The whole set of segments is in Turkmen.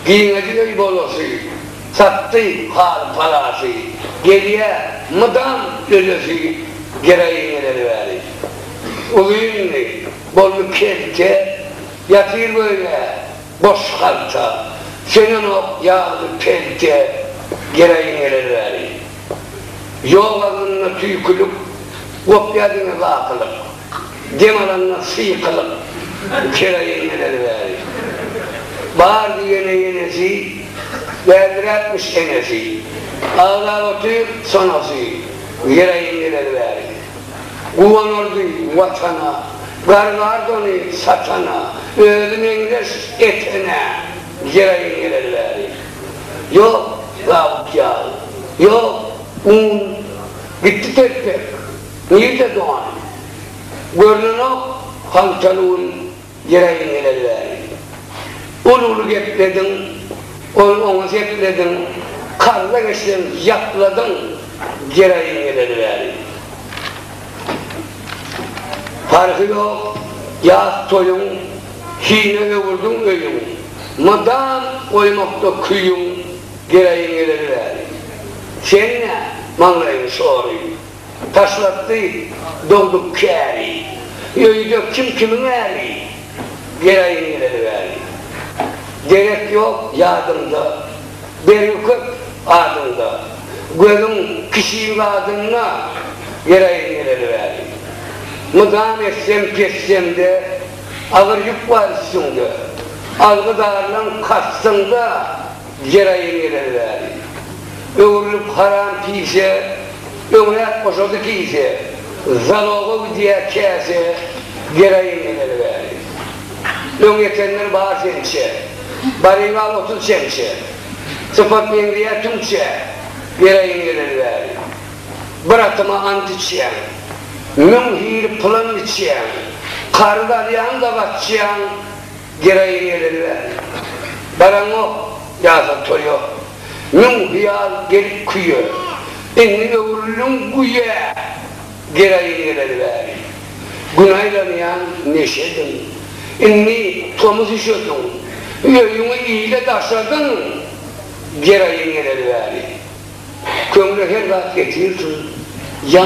Giňedi öý golasy, Satdy haly-palasy, Gelýä mydam ölesi, Gereýiňeler wäli. Uzyndy, boldy kelte, Ýatyr göýnä, boş halta, Sönenok ýagdy pelte, Gereýiňeler wäli. Ýok agzynda tüýkülik, Gopýa diňe bakylyk. Dem alanlar syýkylyk kera inmeleri bäri. Bar diýene ýenesi, bärdiräpmiş enesi. Agzap otyr sonasy ýera inmeleri bäri. Guwanardy Watana, gargardy ony satana, özi meňzeş etene ýera inmeleri bäri. Ýok zabyt ýagy, ýok un, gitdi telpek. Nirde dogan? Görnenok haltaly gün gireýin geleli bäri. Uly-uly geplediň, ol oňa seplediň, karza geçseň ýapladyň gireýin geleli bäri. Parhy ýok, ýas toýuň, hine öwürdiň öýüň, mydam goýmakda küýüň gireýin geleli bäri. Seň-ä maňlaýyň şory, Taşlatdy dogduk käri. Öýde kim kimiň äri. Geraýyn geleli bäri. Derek ýok ýadymda. Bergi köp adyňda. Gözüň kişilik adynda. Geraýyn geleli bäri. Mydam essem pessemde. Agyr ýük bar üstüňde. Algydarlaň kastyňda. Ýer aýyň geleni bäri. Öwrülip haram pise, Öňräk goşady kise, Zaloga gidýär käse, Ýer aýyň geleni bäri. Öň ýetenler bar sençe, Barybal otuz çemçe, Sypat meňzeýär tüňçe, Ýer aýyň geleni bäri. Bir atyma ant içýäň, Müň hili pylan biçýäň, Karyz alýaň-da gaçýaň, Gereýi geleli bäri. Baraňok, ýasan toý ýok. Müň hyýal gelip küýe. Indi öwrüldiň güýe. Gereýi geleli bäri. Gün aýlanýaň neşediň. Indi tomus üşediň. Öýüňi ile daşadyň. Gereýi geleli bäri. Köňle her zat getirsin. Ýa.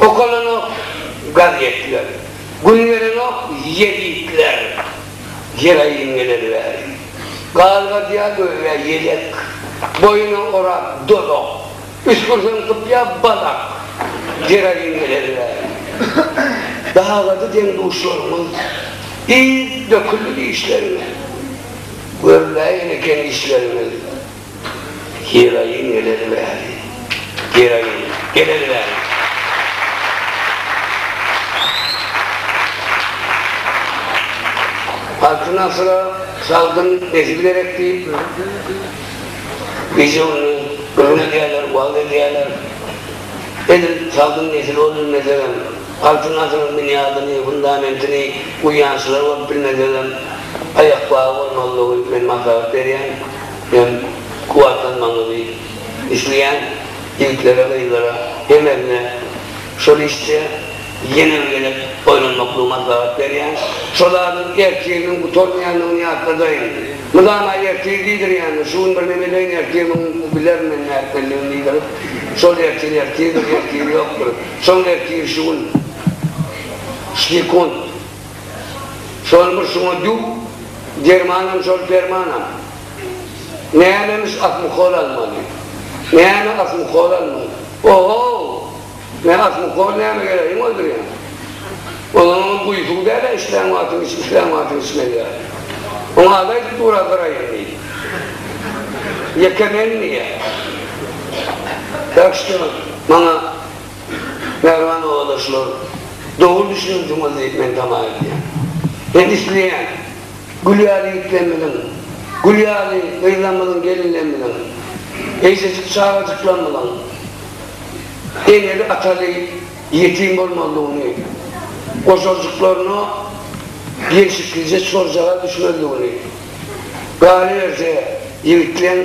Okalanok gazetler, Gün gelenok ýezitler, Jeraýym geler bäri. Galgadýa göýä ýelek, Boýuna orap dolak, Üsgürseň sypýa balak, Jeraýym geler bäri. Dagady deň-duşlarymyz, Yz döküldi dişlerine, Görläýen eken işlerimiz. Heroin geleli bäri. Heroin geleli bäri. Altyn asyra sagdyn nesil gerek diýip, gije gündiz gürrüň edýärler, wagyz edýärler. Edil sagdyn nesil bolup bilmesegem, altyn asyryň binýadyny, fundamentini guýýançylar bolup bilmesegem, aýakbagy bolmalydygy men maslahat berýän. Men kuwwatlanmagyňyzy isleýän ýigitlere, gyzlara, hemesine şol işde ýene bir gezek oýlanmaklygy maslahat berýän. Şol adyň ertiriň gutarmaýandygyny ýatladaýyň. Mydama ertir diýdirýäňiz, şu gün birneme edeýin, ertir muny bilerin men nätmelidigini diýdirip, şol ertir ertirdir, ertiri ýokdur. Soň ertir şu gün, şu sekunt. Şolmuş şuňa dü dermanam şol permanam. Nämemiş asmukol almaly. Näme asmukol almaly. Ohow! Mä asmukol näme gerek iň öldürýän. Onuňam guýysyň dälä islän wagtyň iç islän wagtyň içme diýýär. Oň ady aýdyp dur-a bir aý indi. Ýeke men diýýär. Ýagşymy maňa. Merwan obadaşlar dogry düşüniňdiňiz diýip men tama edýän. Men isleýän gül ýaly ýigitlerimiziň, gül ýaly gyzlarymyzyň, gelinlerimiziň, eýjejik çagajyklarymyzyň eneli ataly ýetim bolmazlygyny, gojaljyklaryna gelşiklije çorjaga düşmezligini, galyberse ýigitleň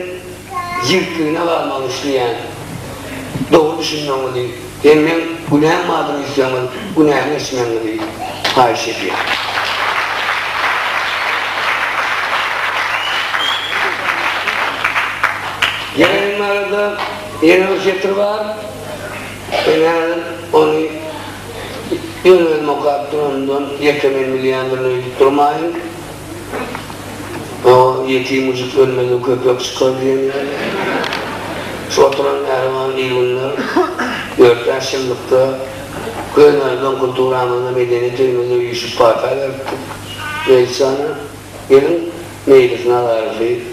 Ýigitligine galmagyny isleýän. Dogry düşünmegiňizi hem meň günäm bardyr öýtseňiz günämi geçmegiňizi haýyş edýän. Ýaýynyň arada ýene bir setir bar. Men häzir ony öz-özüme okap duranymdan ýeke men bilýändirin öýdüp durmaýyn. O ýetim müjük ölmese köpek çykar diýen ýaly. Şu oturan mähriban il günler ýörite şymlykda göz önünden kulturamyzda medeniýet öýümizde üýşüp pata beripdik. Meýlisjana, geliň, Meýlis Nazarowy,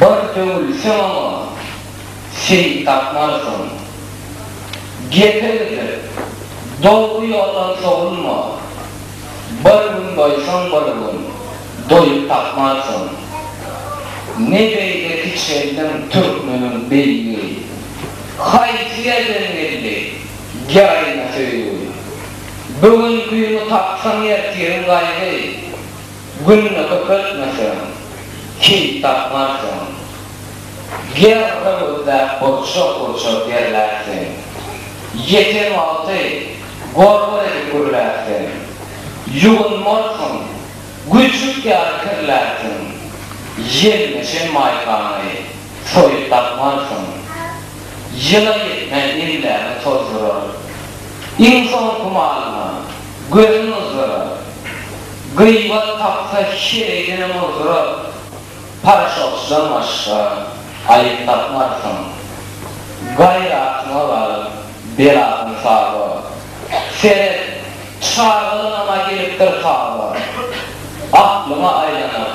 Bir döwülseň-oňa, sen tapmarsyň. Gepe gidip, dogry ýoldan sowulma, Bir gün doýsaň bir gün, doýup tapmarsyň. Ne beýle kiçeldiň türkmeniň beýigi, Haýsy ýerden geldi geraýna söýgi? Bu gün güni tapsaň ertiriň gaýgy. Günüňi köpeltmeseň, kyn tapmarsyň. Ger höwürtläp burçak-burçak derlärsiň. Ýeten wagty gorgur edip gürlärsiň. Ýuwunmarsyň, güjük ýaly kirlärsiň. Ýelmeşen maýkany soýup dakmarsyň. Ýyla ýetmän emlägiň tozdurar. Iň soňky malyňa Gözün ozdurar. Gyýbat tapsa şereýdenem ozdurar. Paraşokçydan başga aýyp tapmarsyň. Gaýratyňa galyp, beladan saba. Seret, çagalygyňam-a gelipdir taba. Aklyňa aýlanyp,